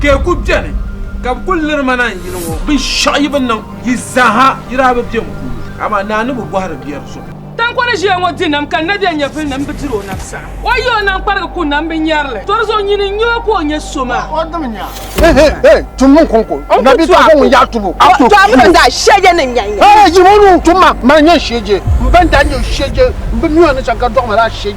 Ka yi ku beni, ka bɛ kul liri ma naan yini ŋɔ. Binshɛɣu yi bi niŋ yi zaaha, yi daa bi be m puuni. Amaa Naa ni bi bɔhiri biɛri zuɣu. Taŋkɔ ni ʒiya ŋɔ di nam, ka Nabiya nyɛvilinim bi dir o nam saɣim. O yi o nam kparigi ku nam bi nyari li. Tɔri zuɣu nyini n-nyɛ o ka o nyɛ so maa.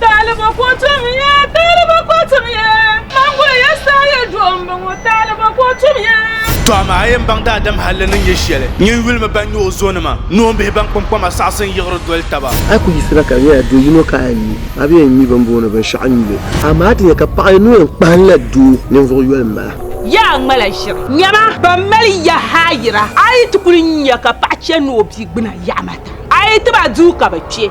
Taaliba ko tum ya, taaliba ko tum ya. Manguli ya saa ya duɣu m bɔŋɔ, taaliba ko tum ya. Tɔ amaa a yɛn baŋ daadam halli ni nyɛ shɛli, nyin yulimi ban nyɛ o zonima, noombihi ban kpaŋkpama saɣisi n-yiɣiri doli taba. A yi ku yisira ka di nyɛla do yino ka a yɛn mi, a bi yɛn mi bɛ ni booni binshɛɣu n-nyuli. Amaa ti nya ka paɣ yino yɛn kpahinla doo ninvuɣ yoli m-bala. Yaa ŋmala ʒiri! Nyama, ban mali ya haayira, a yi ti kul nya ka paɣ chɛ ni o bigbuna yaɣimata, a yi ti ba duu ka bɛ kpe.